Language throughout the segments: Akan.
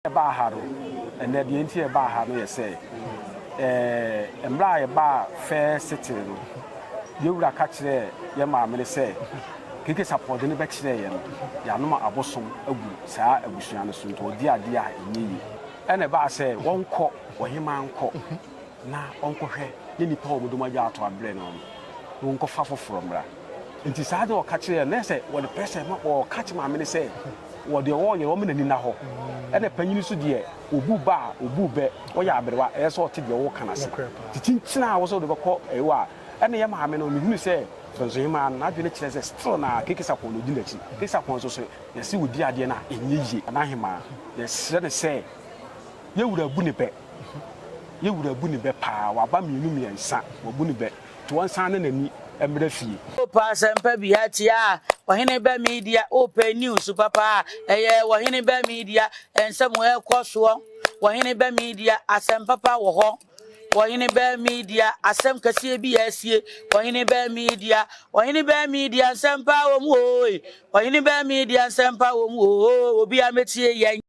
ɛbaa ha no, ɛnnɛ deɛ nti ɛbaa ha no yɛ sɛ, ɛɛ, mmerɛ a yɛbaa Fair City no, yɛn wura ka kyerɛɛ yɛn maame no sɛ, Keke Sapɔɔ de no bɛkyerɛɛ yɛn no, yɛanom abosom agu saa abusua no so, nti wɔdi adeɛ a ɛnyɛ yie. Ɛna ɛbaa sɛ wɔnkɔ, ɔhemaa nkɔ na ɔnkɔhwɛ ne nnipa a wɔn dɔm agya ato abrɛ no no, na wɔnkɔfa afoforɔ mmra. Enti saa na ɔka kyerɛɛ no. Na ɛsɛ sɛ wɔde pressure ma, ɔka kyerɛ maame no sɛ, wɔ deɛ ɔreyɛ ɔmma n'ani nna hɔ. Ɛna panyin nso deɛ, obu ba a, obu bɛ, ɔyɛ aberewa, ɛsɛ sɛ ɔte deɛ woka no ase. Enti kyinkyin a wosɛ wode bɛkɔ ɛwo a, ɛna ɛyɛ maame no. Mehunuu sɛ Bɛnsohemaa no, n'adwene kyerɛ sɛ still na Keke Sarpong na ɔdi n'akyi. Keke Sarpong nso sɛ yɛse ɔdi adeɛ no a, ɛnyɛ yie. Nanahemaa, yɛsrɛ no sɛ, yɛn wura abu ne bɛ. Yɛn wura abu ne bɛ paa. Waba mmienu mmiɛnsa, wabu ne bɛ. To ɔnsan na n'ani mmra fie. O pɛ asɛmpa bi ha tia a, wɔ hene bɛ media O pɛ news papa a, ɛyɛ wɔ hene bɛ media Nsɛm ɛkɔ soɔ wɔ hene bɛ media Asɛm papa wɔ hɔ wɔ hene bɛ media Asɛm kɛseɛ bi asie wɔ hene bɛ media Wɔ hene bɛ media nsɛm pa wɔ mu ooe Wɔ hene bɛ media nsɛm pa wɔ mu ooe Obiara mɛtie yɛn.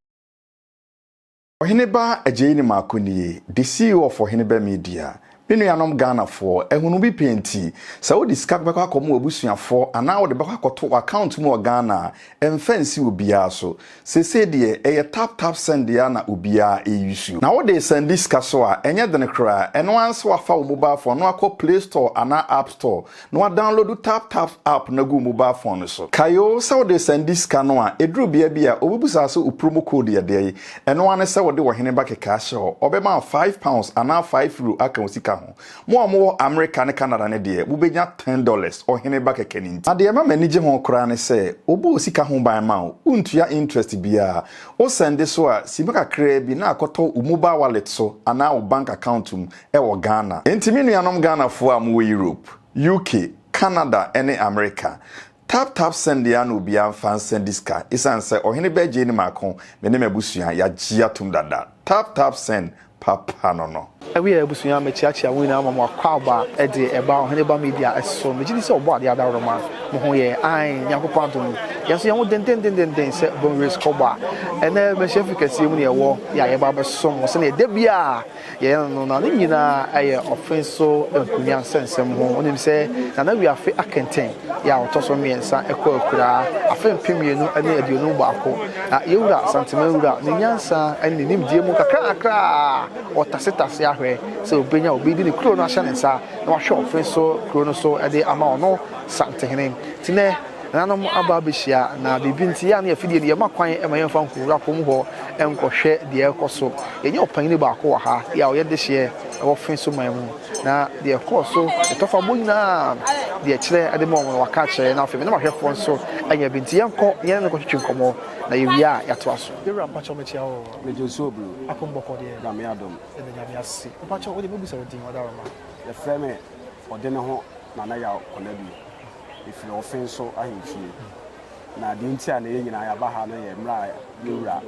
Ɔhene ba agyei ne mako nie de sii wɔ fɔ hene bɛ media me nuanom Ghana foɔ ahunu bi pɛ nti sɛ wo de sika bɛkɔ akɔ mo abusua foɔ anaa wo de bɛkɔ akɔ to wɔ account mu wɔ Ghana a ɛnfa nsi obiara so seesei deɛ ɛyɛ tap tap send deɛ a na obiara ɛyusu na wo de sɛndi sika so a ɛnyɛ dene koraa ɛno ara sɛ wafa wo mobile phone no akɔ play store anaa app store Na wadanlodu TapTap app no agu wo mobal fon no so. Kae o, sɛ wode sɛnde sika no a, eduru bea bi a, obebusa wo sɛ wo promo code yɛ dɛn. Ɛno ara ne sɛ wode Ɔhene ba kɛkɛ ahyɛ hɔ. Ɔbɛma wo five pounds anaa five euro aka wo sika ho. Mo a mowɔ Amerika ne Canada no deɛ, mubenya ten dollars, Ɔhene ba kɛkɛ no nti. Na deɛ ɛma m'ani gye ho koraa ne sɛ, wɔbɔ wo sika ho ban ma wo. Wontua interest biara. Wosɛnde so a, sima kakraa bi na akɔtɔ wo mobal wallet so anaa wo bank account mu. wɔ Ghana. Enti me nuanom Ghanafoɔ a mowɔ Europe, UK, Canada ne Amerika, tap tap send yɛn na obiara mfa nsa di sika esiane sɛ ɔhene bɛgyee ne mako, me ne m'abusua yɛagye atom dada. Tap tap send papa no no. Awiei abusua mekyeakyea mo nyinaa ma mo akwaaba de ɛba Ɔhene Ba Media so. Megye di sɛ ɔbɔ adeɛ adaworoma mo ho yɛ ae Nyankopɔn adom mu yɛn nso yɛn ho dendendendenden sɛ Bonwire Sukɔbɔ a ɛnɛ Mmarahyɛfie kɛseɛ mu na yɛwɔ yɛ a yɛba abɛsom mo sɛdeɛ da biara Yɛyɛ no no, na ne nyinaa yɛ ɔfe so nkonnwa nsɛnsɛm ho. Wonim sɛ Nana Wi afe akɛntɛn yɛ a ɔtɔ so mmiɛnsa kɔ akuraa, afe mpem mmienu ne aduonum baako. Na yɛn wura Santeman Wura, ne nyansa ne ne nimdeɛ mu nkakrankakra a ɔtasetase ahwɛ sɛ ɔbɛnya obi de ne kuro no ahyɛ ne nsa na wahwɛ ɔfe so kuro no so de ama ɔno Santehene. Nti nnɛ, Nananom aba abɛhyia na biribi nti, yɛa ne afidie no yɛma kwan ma yɛmfa nkɔwura kurom hɔ nkɔhwɛ deɛ ɛrekɔ so. Yɛnya ɔpanyini baako wɔ ha a ɔyɛ dehyeɛ wɔ fe so man mu na deɛ ɛkɔɔ so ne tɔfabɔ nyinaa deɛ ɛkyerɛ de ma wɔn no waka akyerɛ na afei me ne m'ahwɛfoɔ nso anya bi nti yɛnkɔ na yɛne no nkɔtwetwe nkɔmmɔ na yɛwie a yɛatoa so. Yɛwura mpakyɛw mekyia wo o. Mede osuo bro. Ako mbɔkɔ deɛ. Nyame adom. Yɛda Nyame ase. Mpakyɛw wo deɛ mɛbusa wo din ɔdaworoma. Yɛfrɛ me Ɔdeneho Nana Yaw Kɔnadu. Efiri ɔfen so ahemfie. Na deɛ nti a na yɛn nyinaa yɛaba ha no yɛ mmerɛ a yɛn wura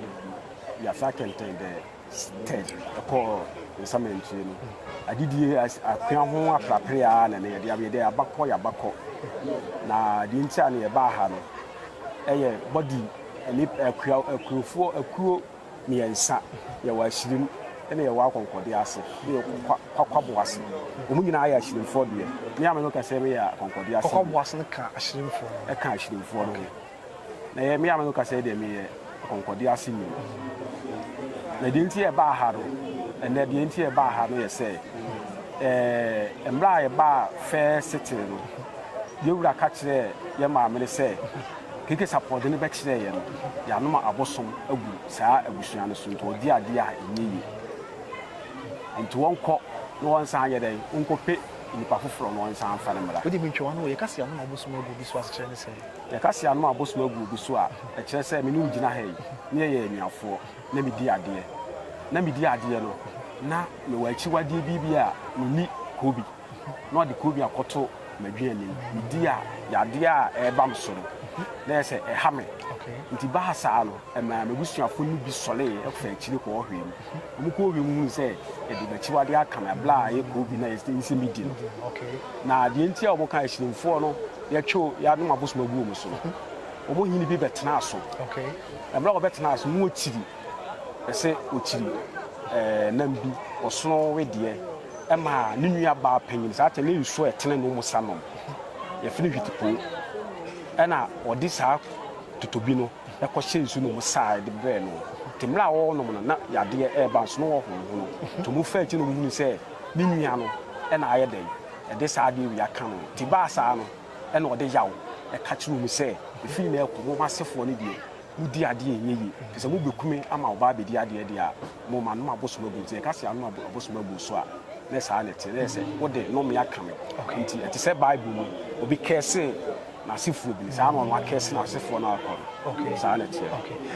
Yafia Kenten the Third kɔɔ nsamantie no. Adidie, akua ho aprapere ara na na yɛde aba. Yɛde aba kɔ, yɛaba kɔ. Na deɛ nti a na yɛbaa ha no yɛ body ne akua, akuofoɔ, akuo. mmiɛnsa, yɛwɔ ahyirim na yɛwɔ akɔnkɔdeɛ ase, na yɛwɔ kwa, kwakwabo ase. Wɔn nyinaa yɛ ahyirimfoɔ deɛ. Me a me no kɛseɛ no yɛ akɔnkɔdeɛ ase. Kwakwabo ase no ka ahyirimfoɔ no ho. Ɛka ahyirimfoɔ no ho. Na yɛ me a me no kɛseɛ deɛ meyɛ akɔnkɔdeɛ ase ni. Na deɛ nti yɛbaa ha no, ɛnɛ deɛ nti yɛbaa ha no yɛ sɛ, ɛɛ, mmerɛ a yɛbaa fɛɛ setee no, yɛwura ka kyerɛɛ yɛ maame no sɛ, Kekes aporɔde no bɛkyerɛeɛ no, yɛanoma abosom agu saa abusua no so nti wɔdi adeɛ a ɛnyɛ yie. Nti wɔnkɔ na wɔnsan nyɛ dɛn? Wɔnkɔpɛ nnipa foforɔ na wɔnsan mfa no mmra. Wode mentwa w'ano o, yɛka se yɛanoma abosom agu obi so a, asekyerɛ ne sɛn? Yɛka se yɛanoma abosom agu obi so a, ɛkyerɛ sɛ me ne wo gyina ha yi, na yɛyɛ anuafoɔ, na medi adeɛ. Na medi adeɛ no, na mewɔ akyiwadeɛ bi bi a menni, Kobi. na ɔde konnua akɔto m'adwene anim. Medi a, yadeɛ a ɛreba me so no, na ɛyɛ sɛ ɛha me. Nti bahasaa no, ɛmaa m'abusuafo no bi sɔree faa akyiri kɔɔ hwɛɛ mu. Wɔkɔɔ hwɛɛ mu hunuu sɛ yɛde m'akyiwadeɛ aka me bra a ɛyɛ koobi no a ɛyɛ sɛ medi no. Na deɛ nti a wɔkaa Asirimfoɔ no yɛtwe yɛanom abosom agu wɔn so no, wɔn hene bi bɛtenaa so. Mmerɛ a wɔbɛtenaa so no, na wɔkyiri. Ɔpɛ sɛ ɔkyiri nam bi, ɔsono wedeɛ ma ne nua baa panyin. Saa kyɛ ne nsuo a ɛtene no mu sa nom. Yɛfrɛ no hwitipoo. Ɛna ɔde saa totobi no kɔhyɛ nsuo no mu saa de brɛɛ no. Nti mmerɛ a ɔrenom no na yadeɛ reba nso na ɔhonohono. Nti wɔfaa akyi na wɔhunuu sɛ ne nua no na ayɛ dɛn de saa adeɛ wei aka no. Nti ɛbaa saa no na ɔde yaw ka kyerɛɛ wɔn sɛ, Ɛfiri nnɛ rekɔ mo m'asefoɔ no deɛ Wodi adeɛ a ɛnyɛ yie. Te sɛ mobɛku me ama ɔbaa abɛdi adeɛ deɛ a, mo manom abosom agu. Nti yɛka sɛ anom abosom agu wo so a, ne saa na ɛteɛ. Na ɛyɛ sɛ wode nnome aka me. Nti ɛte sɛ Bible mu obi kɛɛse n'asefoɔ bi no, saa na ɔno akɛɛse n'asefoɔ no akɔ no. Saa na ɛteɛ.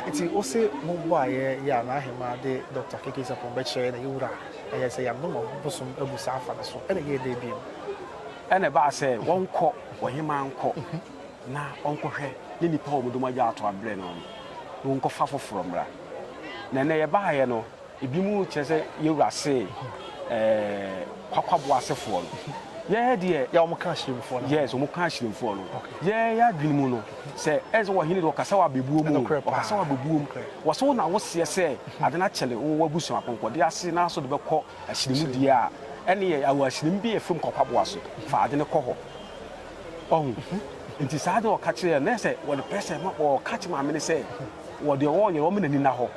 Nti wo se mobɔ a yɛ yɛ a, n'ahemaa de Dɔkta KK Sarpong bɛkyerɛ yɛ na yɛ wura a, ɛyɛ sɛ yɛanom abosom agu saa afa no so. Ɛna ɛyɛɛ dɛn bio? Ɛna ɛbaa sɛ wɔnkɔ, ɔhemaa nkɔ. na ɔnkɔhwɛ ne nnipa a wɔn dɔm agya ato abrɛ no no, na wɔnkɔfa foforɔ mmra. Na ɛnnɛ yɛbaeɛ no, ebinom kyerɛ sɛ yɛn wura see ɛɛ kwakwaboɔ asefoɔ no. Yɛn deɛ. Yɛ wɔn ka ahyirimfoɔ no. Yes, wɔn ka ahyirimfoɔ no. Yɛn yɛn adwene mu no, sɛ ɛyɛ sɛ ɔhene deɛ ɔkasa wɔ abɛbuo mu, ɔkasa wɔ abɛbuo mu, wɔsɛ wo na woseɛ sɛ ade no akyɛre wɔ w'abusua apɔnkɔdeɛ ase na so de bɛkɔ ahyirimu deɛ a, ɛnneɛ yɛ ahyirimu bi yɛ fam kwakwaboa so, fa ade no kɔ hɔ. Wahu? Nti saa deɛ ɔka kyerɛ yɛ na sɛ wɔde pɛ sɛ ma wɔka kyerɛ maame no sɛ wɔ deɛ wɔyɛ wɔn n'ani na hɔ.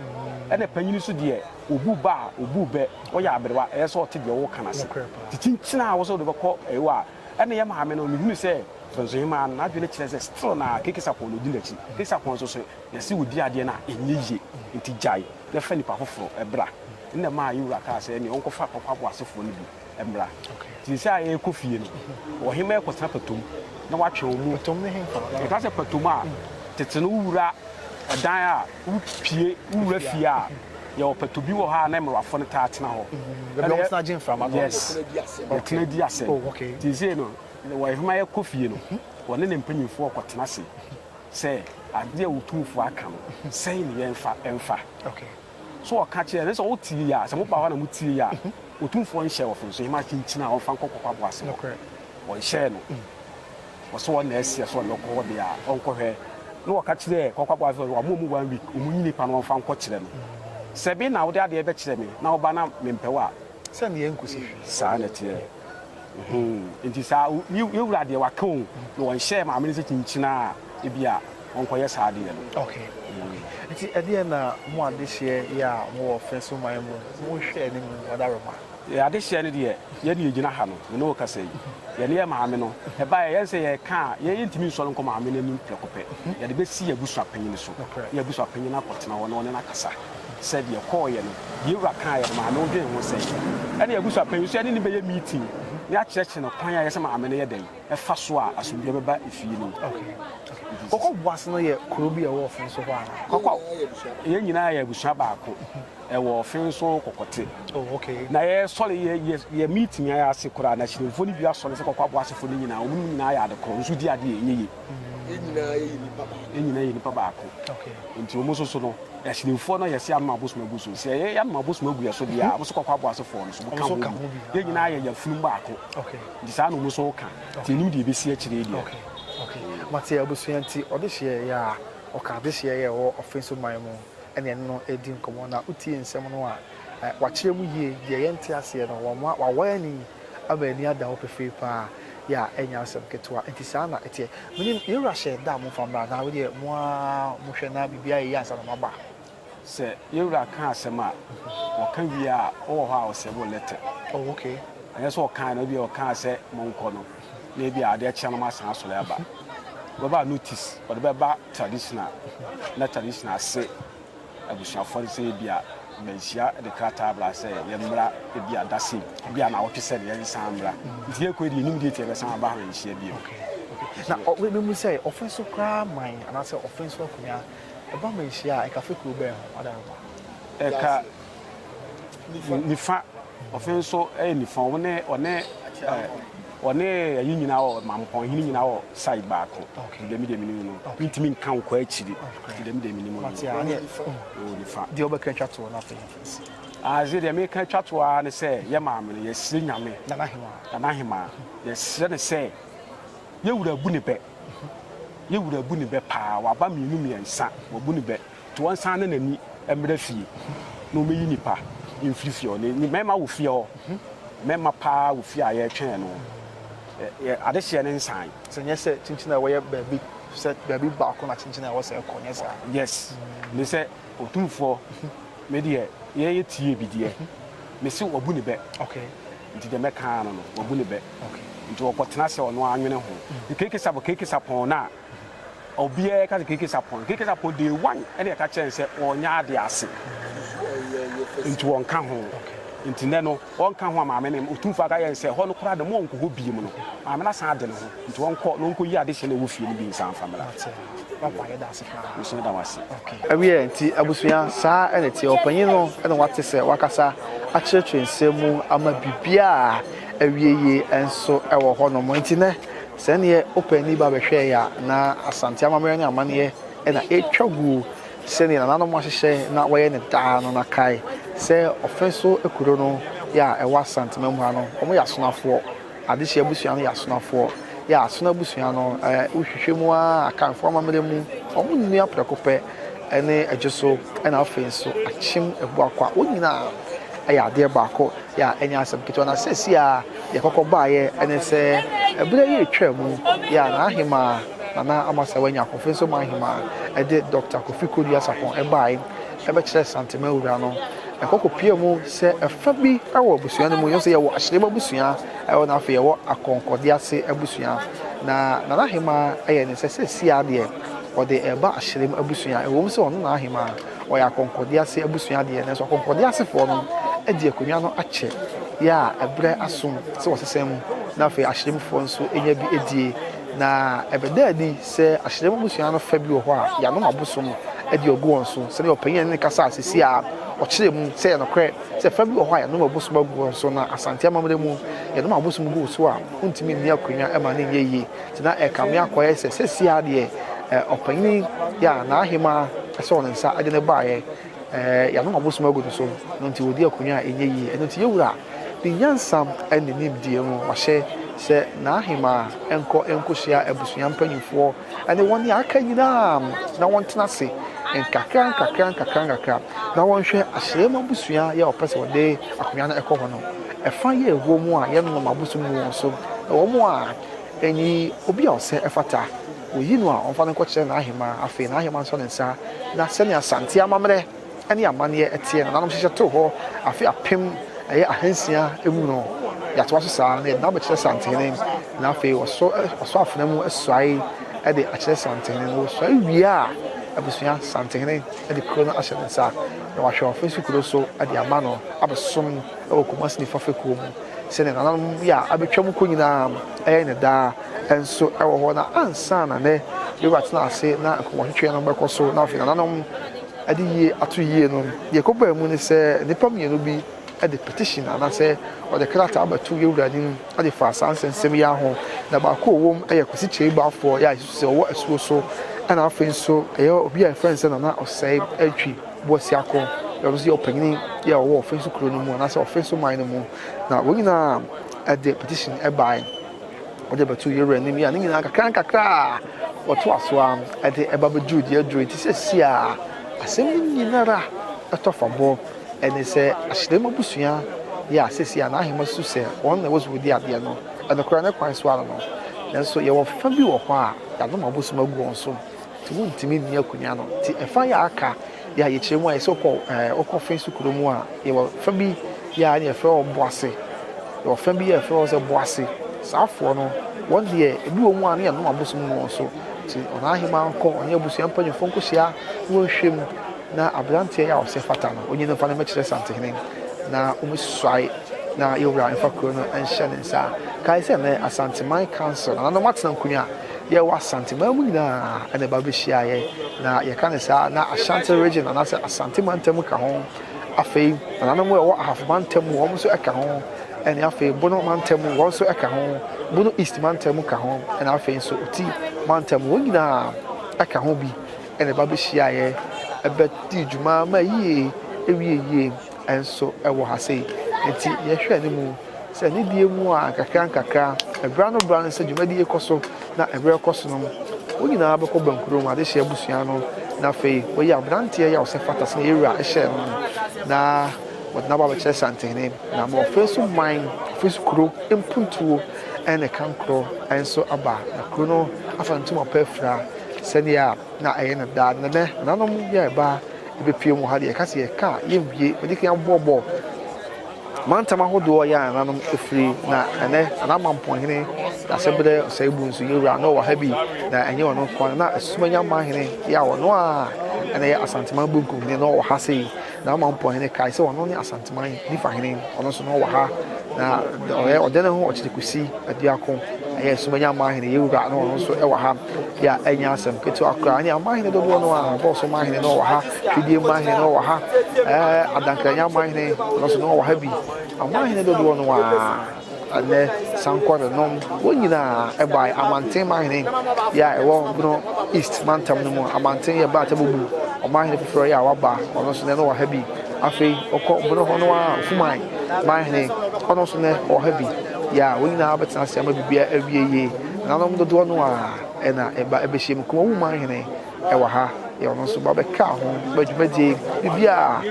Ɛna panyin nso deɛ obu ba a obu bɛ ɔyɛ aberewa ɛyɛ sɛ ɔte deɛ wɔka no ase. Nti kyinkyin a wɔsɛ wɔde bɛkɔ ɛyɛ a ɛna yɛ maame no mehunu sɛ Bɛnsohemaa no n'adwene kyerɛ sɛ still na Keke Sapɔn na odi n'akyi. Keke Sapɔn nso sɛ yɛse odi adeɛ no a ɛnyɛ yie nti gyae na fa nipa foforɔ bra. Ɛna ɛmaa yɛ wura kaa sɛ ɛneɛ ɔnkɔfa Kwaku Aboasefoɔ no bi mmra. Nti seesei a yɛrekɔ fie no, ɔhemmaa yi kɔtena patom na watwe wɔn mu. Patom ne he? Yɛka sɛ patom a, tete no wowura dan a, wopie, wowura fie a, yɛwɔ pato bi wɔ hɔ a na mmerewafo no taa tena hɔ. Baabi a wɔtena gye mframa no. Yes, wɔtena di asɛm. Oh, okay. Nti seesei no, ɔhemmaa yi kɔ fie no, wɔne ne mpanyimfoɔ kɔtena ase sɛ adeɛ a otumfoɔ aka no, sɛn ne yɛmfa mfa. Okay. So ɔka kyerɛɛ no sɛ ɔretie yɛ a? Sɛ moba hɔ na motie yɛ a, Otumfoɔ nhyɛ wɔ fam, so yɛma akyinkyini a ɔmfa nkɔ kɔkɔabo ase hɔ. Ɔnhyɛɛ no wɔ sɛ ɔna ɛseɛ sɛ ɔde bɛkɔ hɔ deɛ a, ɔnkɔhwɛ. Na ɔka kyerɛɛ kɔkɔabo ase sɛ, Wɔama ɔmu one week, ɔmunyi nipa no ɔmfa nkɔkyerɛ no. Sɛ me na wode adeɛ bɛkyerɛ me na woba na mempɛ wo a, Sɛ nea ɛnkosi hwee. Saa na ɛteɛ. Mm-hmm. Nti saa, yɛwura deɛ waka o, na wɔnhyɛɛ maame no sɛ kyinkyina a, ebi a wɔnkɔyɛ saa adeɛ no. Okay. Mm. Nti ɛdeɛ na mo adehyeɛ yɛ a mowɔ fɛ so man mu, monhwɛ anim ɔdaroma. Yɛ adehyeɛ no deɛ, yɛn deɛ yɛgyina ha no, me ne wo kasa yi. Yɛne yɛ maame no, ɛbaeɛ yɛn sɛ yɛka a, yɛn yɛntumi nsɔre nkɔ maame no anim prɛko pɛ. Yɛde bɛsi yɛn abusua panyin no so, na yɛn abusua panyin no akɔtena hɔ na ɔne no akasa. sɛ deɛ kɔɔeɛ no, deɛ wura kaaeɛ no, maame wo dwen ho sɛn? Ɛne abusua panyin nso yɛne no bɛyɛ meeting ne akyerɛkyerɛ no kwan a ɛyɛ sɛ maame no yɛ dɛn ɛfa so a asomdwoeɛ bɛba efie no mu. Okay. Mhm. Kɔkɔ Boase no yɛ kuro bi a ɛwɔ ɔfen so hɔ anaa? Kɔkɔ, yɛn nyinaa yɛ abusua baako ɛwɔ ɔfen so kɔkɔte. Oh, okay. Na yɛ sɔre yɛ yɛ yɛ meeting ayɛ ase koraa na akyiremfoɔ no bi asɔre sɛ kɔkɔ aboasefo no nyinaa wɔn nyinaa yɛ ade korɔ nso di adeɛ ɛnyɛ yie. yɛn nyinaa yɛ nipa baako. yɛn nyinaa yɛ nipa baako nti wɔn nso so no asinimfoɔ no yɛsi anoma abosom agu so sɛ yɛyɛ anoma abosom agu yɛ so deɛ a wɔn nso kɔkɔ abo asefoɔ no so wɔn ka ho bi yɛn nyinaa yɛ yɛn funum baako nti saa na wɔn nso ka nti enim deɛ ebesi akyire deɛ. mate abusua nti ɔde hyeɛ yɛ a ɔka ade hyeɛ yɛ wɔ ɔfe so man mu ɛne ɛne no redi nkɔmɔ na wotie nsɛm no a wakyerɛ mu yie deɛ yɛnte aseɛ no wɔn a wawɔ ani Ama ani ada hɔ pefee paa, yɛ a ɛnyɛ asɛm ketewa. Enti saa na ɛteɛ. Menim, yɛn Wura hyɛɛ da a momfa mmra, na wodeɛ mo ara mohwɛ na biribiara ayɛ yie ansa na moaba. Sɛ yɛn Wura ka asɛm a, ɔka wie a, ɔwɔ hɔ a ɔsɛbe wo lɛtɛ. Oh, okay. Ɛnyɛ sɛ ɔkae no, ebia ɔkaa sɛ monkɔ no, na ebia adeɛ kyea no moasan asɔre aba. Wobɛba a notice ɔde bɛba traditional, na traditional ase. abusuafoɔ no sɛ ebia manhyia de krataa bra sɛ yɛmmra ebia da sei, ebia naawɔtwe sɛ ne yɛnsan mmra. Nti yɛkɔɛ deɛ yɛnim date yɛbɛsan aba ha nhyia bio. Na memu sɛ ɔfe so koraa man anaasɛ ɔfe so akonwa ɛba ma ɛhyia a ɛka fekuro bɛn ho? Adɛn ho ba? Ɛka. Nifa, ɔfe nso yɛ nifa. Ɔne ɔne ɔne ayi nyinaa wɔ mampɔn hene nyinaa wɔ side baako ti dɛm deɛ menim no mentumi nka nkɔ akyiri ti dɛm deɛ menim no wɔ nifa deɛ wobɛka twa toɔ no afei ase deɛ meka twa toɔ ara ne sɛ yɛ maame no yɛsrɛ nyame nana hemaa yɛsrɛ ne sɛ yɛwura bu ne bɛ yɛwura bu ne bɛ paa waba mmienu mmiɛnsa wabu ne bɛ To ɔnsan na n'ani mmra fie na ɔmɛyi nnipa mfiri fie hɔ. Ni mɛma wo fie hɔ, mɛma paa wo fie a yɛretwɛn no adehyeɛ no nsan. Sɛ nyɛ sɛ kyinkyin a ɛwɔ yɛ baabi sɛ baabi baako na kyinkyin a ɛwɔ sɛ ɛkɔ, nyɛ saa. Yes, ne sɛ Otumfoɔ me deɛ yɛ yɛ tie bi deɛ, me se wabu ne bɛ. Okay. Nti deɛ mɛka ara no no, wabu ne bɛ. Okay. Nti ɔkɔtena sɛ ɔno ara nwene ho. Keke sabo keke sapɔn no a. Obiara ka sɛ keke sapɔn keke sapɔn day one ɛna yɛka kyerɛ no sɛ ɔnyɛ ade ase nti wɔnka ho nti nɛ no wɔnka ho a maame no ɔtumfoɔ aka yɛ no sɛ hɔ no koraa de mo ɔnkɔ hɔ biem no maame no asan ade no ho nti ɔnkɔ na ɔnkɔyi ade hyɛ no ɛwɔ fie no bi nsa mfa mmra nso da wase ɛwiɛ nti abusua saa ɛna ɛteɛ ɔpanyin no ɛna wate sɛ wakasa akyerɛkyerɛ nsɛm mu ama biribiaa awieyie nso ɛwɔ hɔ nom nti nɛ Sɛ neɛ ɔpɛ ani ba bɛhwɛɛ yɛ a, na Asante amammerɛ ne amanneɛ na ɛretwa guo sɛdeɛ nananom ahyehyɛ na wɔyɛ no daa no. Na kae sɛ Ɔfɛ so kuro no yɛ a ɛwɔ Asante mam ha no, wɔyɛ Asonafoɔ. Adehye abusua no yɛ Asonafoɔ. Yɛ a Asona abusua no, wohwehwɛ mu ara a, Akanfoɔ amammerɛ mu, wɔnnua prɛko pɛ ne Adwoso na afei nso Akyem Abuakwa, wɔn nyinaa. yɛ adeɛ baako yɛ a ɛnyɛ asɛm ketewa na seesei a deɛ kɔkɔ baeɛ ne sɛ ɛberɛ yi retwa mu yɛ a n'ahemaa Nana Amasaawa anya ahoɔfɛ nso ma ahemaa ɛde Dɔkta Kofi Kodua Sarpong ɛbae ɛbɛkyerɛ Santema wura no na kɔkɔ pia mu sɛ ɛfa bi wɔ abusua no mu yɛn sɛ yɛwɔ Ahyerem abusua ɛwɔ na afei yɛwɔ Akɔnkɔde ase abusua na Nana ahemaa ɛyɛ ne sɛ seesei a deɛ ɔde ɛba Ahyerem abusua ɛwɔ mu sɛ ɔno na ahemaa wɔyɛ akɔnkɔde ase abusua deɛ, nanso akɔnkɔde asefoɔ no de akonnwa no akyɛ yɛ a ɛbrɛ asom sɛ wɔsesa mu na afei ahyerɛmufoɔ nso nya bi adie. Na ɛbɛda adi sɛ ahyerɛmu abusua no fa bi wɔ hɔ a yɛanom abosom de agu wɔn so. Sɛdeɛ ɔpanyin a ne kasa a sisi a ɔkyerɛ mu sɛ yɛ nokorɛ sɛ fa bi wɔ hɔ a yɛanom abosom agu wɔn so na Asante amammerɛ mu yɛnom abosom gu wo so a wontumi nni akonnwa ma no nyɛ yie. Nti na ɛrekame akɔyɛ sɛ seesei ara deɛ ɔpanyin yi a n'ahemaa sɔɔ ne nsa de no baeɛ, yɛanom abosom agu no so, ɛno nti ɔredi akonnwa a ɛnyɛ yie. Ɛno nti yɛn Wura, ne nyansa ne nimdeɛ mu, wahyɛ sɛ n'ahemaa nkɔ nkɔhyia abusua mpanimfoɔ ne wɔn a aka nyinaa na wɔntena ase nkakra nkakra nkakra nkakra na wɔnhwɛ ahyɛm abusua yɛ a ɔpɛ sɛ ɔde akonnwa no kɔ hɔ no, ɛfa yɛ ɛwɔ mu a yɛnnom abosom gu wɔn so, na wɔn a Enyi obi a ɔsɛ ɛfata, woyi no a ɔmfa no nkɔkyerɛ n'ahemaa, afei n'ahemaa nsɔ ne nsa, na sɛnea Asante amammerɛ ne amanneɛ teɛ nananom hyehyɛ too hɔ afe apem ɛyɛ ahansia mu no, yɛatoa so saa na yɛde no abɛkyerɛ Santehene, na afei wɔsɔ afena mu suae de akyerɛ Santehene, na wosuae wie a abusua Santehene de kuro no ahyɛ ne nsa na wahwɛ ɔfasuo kuro so de ama no abɛsom. wɔ Kumasi Nifa fekuo mu sɛdeɛ nananom bi a abɛtwam kɔ nyinaa yɛ no daa nso wɔ hɔ na ansa na nɛ bɛwura atena ase na nkɔmmɔtwetweɛ no bɛkɔ so na afei nananom de yie ato yie no deɛ ɛkɔbaa mu ne sɛ nnipa mmienu bi de petition anaasɛ wɔde krataa bɛto yɛwura anim de faa saa nsɛnsɛm yi ho na baako ɔwɔ mu yɛ Kwasi Kyei Baafoɔ yɛ a ɛsusu sɛ ɔwɔ asuo so ɛna afei nso ɛyɛ obi a ɛfrɛ no sɛ Nana Ɔsɛe Atwi Boasiako, na ɔno nso yɛ ɔpanyin bi a ɔwɔ Offinso kurow no mu anaasɛ Offinso man no mu, na wɔn nyinaa de petition bae de bɛtoo Yɛwura anim yi a ne nyinaa nkakrankakra a wɔtoa so a de ɛba bɛduru deɛ aduru nti sɛsi a asɛm no nyinara ɛtɔ fa bɔ ɛne sɛ ahyerɛm abusua yɛ a sɛsi a n'ahema su sɛ wɔn na ɛwɔ so wɔdi adeɛ no ɛnokorɛ ne kwan so ara no nanso yɛwɔ fa bi wɔ hɔ a yɛanom abosom agu wɔn so nti wontumi nni akonnwa no nti ɛfa yɛ aka yɛ a yɛkyerɛ mu a yɛsɛ wokɔ ɛɛ wokɔ fɛn so kuro mu a yɛwɔ fa bi yɛ a ne yɛfrɛ wɔ boase yɛwɔ fɛn bi yɛ ɛfrɛ wɔ sɛ boase saafoɔ no wɔn deɛ ebi wɔ mu a ne yɛnom abosom no wɔn so nti ɔno ahema nkɔ ɔne abusua mpanyinfoɔ nkɔhyia ne wɔnhwɛ mu na aberanteɛ yɛ a ɔsɛ fata no onye no fa no mɛkyerɛ santehene na wɔmɛsusuae na yɛwura mfa kuro no nhyɛ ne nsa kae sɛ nɛ asanteman council nananom atena nkonnwa Yɛwɔ Asante man mu nyinaa na ɛba bɛhyia yɛn, na yɛka no saa na Ashanti Region anaasɛ Asante mantam ka ho. Afei nananom a ɛwɔ Ahafo mantam mu wɔn nso ka ho, ɛne afei Bono mantam mu wɔn nso ka ho, Bono East mantam ka ho, ɛna afei nso Oti mantam wɔn nyinaa ka ho bi na ɛba bɛhyia yɛn bɛdi dwuma ma yie, ɛwie yie. nso wɔ ha sei. Nti yɛhwɛ ne mu sɛ ne die mu a nkakra nkakra, ɛbra no bra no sɛ dwumadie kɔ so na ɛberɛ kɔ so no, wɔn nyinaa bɛkɔ bankurom adehyeɛ abusua no na afei wɔyi aberanteɛ yi a ɔsɛ fata sɛ yɛwura hyɛ no no na wɔde no aba bɛkyerɛ santehene na ma ɔfei so man ɔfei so kuro mpuntuo ne kankorɔ nso aba na kuro no afa no ntom ɔpɛ afira sɛdeɛ Na ɛyɛ no daa. Na nnɛ, menanom yi a yɛba abepue mu ha deɛ, yɛka sɛ yɛka a, yɛnwie. Madi kan aboɔbɔ mantam ahodoɔ a yɛn nananom firi, na ɛnnɛ, Anaamanponhene Dasebrɛ Ɔsɛebu nso, yɛn wura no wɔ ha bi. Na ɛnyɛ ɔno nko ara, na Asumanyamanhene, yɛ a ɔno ara na ɛyɛ Asanteman Bonkumhene no wɔ ha sei. Na ɔma mpɔn hene kae sɛ ɔno ne Asanteman Nifa hene, ɔno nso na ɔwɔ ha, na ɔyɛ ɔdan ho ɔkyere kosi aduako. Ɛyɛ Sumanya Amanhene Yewura na ɔno nso wɔ ha, bi a ɛnyɛ asɛm ketewa koraa. Ɛne amanhene dodoɔ no ara, Bɔɔso Amanhene na ɔwɔ ha, Twidie Amanhene na ɔwɔ ha, ɛɛ Adankranya Amanhene, ɔno nso na ɔwɔ ha bi. Amanhene dodoɔ no ara. Ɛnnɛ, sankɔrenom, wɔn nyinaa bae Amanten Mahene yɛ a ɛwɔ Bono East mantam no mu. Amanten yɛ bere a Tabobu, ɔmanhene foforo yɛ a waba, ɔno nso nnɛ no wɔ ha bi. Afei wɔkɔ Bono hɔ no ara a Ofuman manhene, ɔno nso nnɛ ɔwɔ ha bi, yɛ a wɔn nyinaa bɛtena ase ama biribiara awie yie. Ɛnanom dodoɔ no ara na ɛba bɛhyiam. Kumawu manhene. wɔ ha, deɛ ɔno nso ba bɛkaa ho ma dwumadie biribiara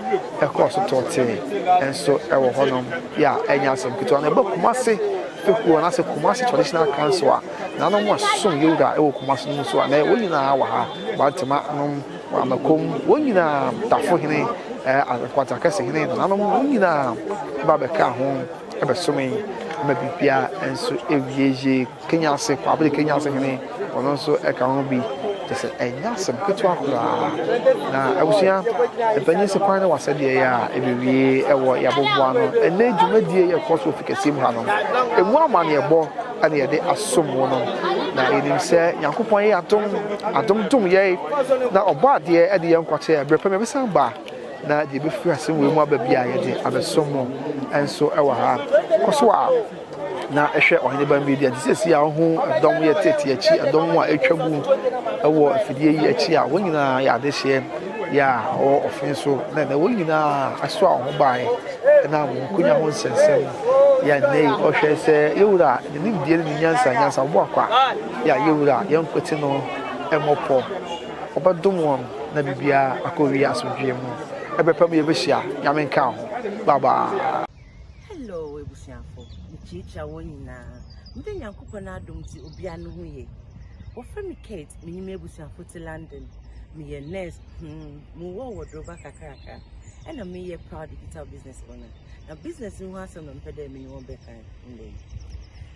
ɛkɔɔ so tɔɔ tee nso wɔ hɔnom yɛ a ɛnyɛ asɛm ketewa na ɛbɔ Kumasi fekuo anaasɛ Kumasi Traditional Council a nanom a ɛsosom Yewura ɛwɔ Kumasi no mu so a na wɔn nyinaa wɔ ha Bantama nom wɔ Amakom wɔn nyinaa Tafo hene Nkwanta kɛse hene nananom wɔn nyinaa ba bɛkaa ho ɛbɛsome ma biribiara nso ɛwie yie Kenya ase, Kwabere Kenya ase hene, ɔno nso ka ho bi. Kyerɛ sɛ, ɛnyɛ asɛm ketewa koraa. Na abusua mpanyin sɛ kwan ne w'asɛdeɛ yɛ a, ɛbɛwie wɔ yɛaboboa ano. Ɛnnɛ yi dwumadie yɛ ɛkɔ so wɔ Fikasɛm mu hanom. Ɛmu amanneɛbɔ na yɛde asom wo no. Na yɛnim sɛ Nyankopɔn yɛ adom, adom dom yɛn, na ɔbɔ adeɛ de yɛn nkwa kyɛ yɛn. Berɛ pa mu yɛbɛsan ba na deɛ ɛbɛfiri asɛm wei mu aba biara yɛde abɛsom wo nso wɔ ha. Kɔ so ara. na hwɛ ɔhene ba mmedi adi sɛsi a ɔho ɛdɔm yɛ tete akyi ɛdɔm mu a atwa mu ɛwɔ afidie yi akyi a wɔn nyinaa yɛ adehyeɛ yɛ a ɔwɔ ɔfen so na ɛnɛ wɔn nyinaa aso a ɔho baeɛ ɛna wɔn nkonya ho nsɛnsɛm yɛ nnɛ yi ɔhwɛ sɛ yɛwura ne nimdeɛ ne ne nyansa nyansa ɔbɔ akwa yɛ a yɛwura yɛn nkwete no ɛmmɔ pɔ ɔbɛdom wɔn na biribiara akɔwie asomdwoeɛ mu ɛbɛpɛ mu yɛbɛhyia nyame nka ho bye bye Hello ebusuafo, mekyiakyia wɔn nyinaa. Mede Nyankopɔn adom nti obiara ne ho ye. Wɔfrɛ me Kate, me ne m'abusuafo te London. Meyɛ nurse, hmm, mewɔ wɔ Doroba kakraka. Ɛna meyɛ proud digital business owner. Na business no ho asɛm na mepɛ dɛ me ne wɔn bɛka ndɛ yi.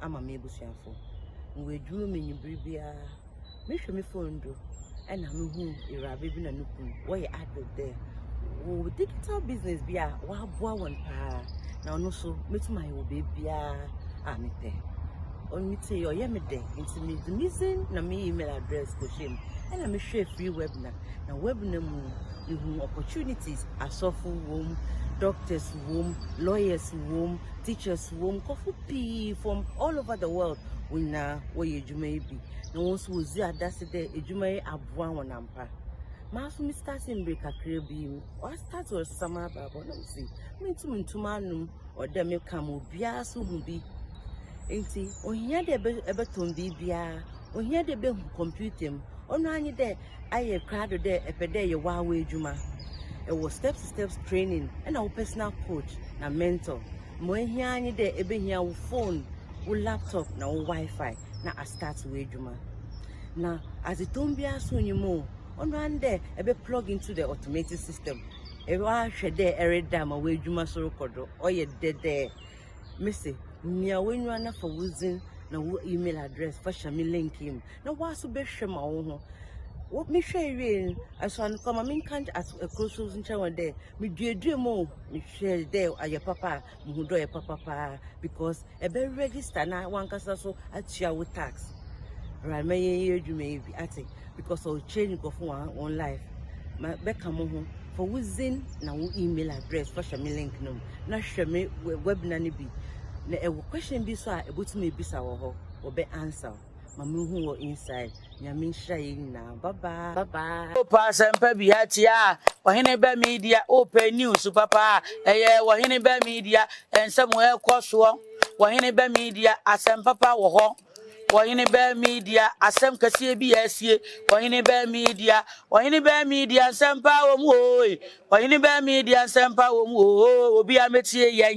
ama me ebusuafo. Mowɔ edwuma mu ewimbir biara, mehwɛ me phone do na muhu ewuraba bi na no kun wɔyɛ advert dɛ wɔwɔ digital business bi a wɔaboa hɔn paa, na ɔno so metum ayɛ wɔ beebiara a mepɛ. Ɔno ntsi ɔyɛ me dɛ, ntsi medze me dzin na me email address kɔhyɛɛ mu na mehwɛɛ free webinar, na webinar mu no, muhun opportunities, asɔfo wɔ mu, doctors wɔ mu, lawyers wɔ mu, teachers wɔ mu, nkorɔfo pii from all over the world, hɔn nyina wɔyɛ edwuma yi bi, na hɔn so wɔdzi adase dɛ edwuma yi aboa hɔn ampa. Maa so me startee mber kakra bi yi, ɔa start ɔresesa m'abrabɔ na mese menntum nntu m'anom, ɔwɔ dɛ meka ma obiara so hu bi. Ntsi ohia dɛ ebɛ ebɛtɔn biribiara, ohia dɛ ebehu computer mu, ɔnoara nye dɛ, Ayɛ krado dɛ epɛ dɛ eyɛ w'awa edwuma. Ewɔ steps steps training na wo personal coach na mentor. Ma ohia ara nye dɛ ebehia wo phone, wo laptop na wo WiFi na astart w'edwuma. Na adzetɔn biara so nnyi mu o, ɔno ara nye dɛ ebɛ plug into the automated system. Ewahwɛ dɛ ereda ma w'edwuma so rokɔ do, ɔyɛ dɛdɛɛ. Mese nea w'enyiwa na fa wo dzin na wo email address fa hyɛ me link yi mu na w'aso bɛhwɛ ma wo ho wo mehwɛ ewie no ɛso ano kɔ ma me nka aso ɛkoro so nkyɛn wɔ dɛ meduadua mu o mehwɛ dɛ ayɛ papa a mehu dɛ ɔyɛ papa paa because ɛbɛ register na wankasa so atua wo tax right mɛyɛ yɛ adwuma yi bi ate. because ɔwɔ change nkurɔfo wɔn wɔn life ma bɛka mo ho fa wo zin na wo email address fa hyɛ me link no mu na hwɛ me webinar no bi na ɛwɔ question bi so a ɛbɛtumi ebisa wɔ hɔ wɔbɛ answer ma me hu wɔ inside nyame nhyira yɛ nyinaa bye bye bye bye. o pa asɛmpa bi atia a ɔhene bɛ media o pɛ news papa a ɛyɛ ɔhene bɛ media ɛnsɛm ɛkɔ soɔ ɔhene bɛ media asɛmpapa wɔ hɔ. Ɔhene bɛn Media asɛm kɛseɛ bi asie? Ɔhene bɛn Media, ɔhene bɛn Media nsɛmpa wɔ mu oe? Ɔhene bɛn Media nsɛmpa wɔ mu oo, obi a mɛtie yɛn.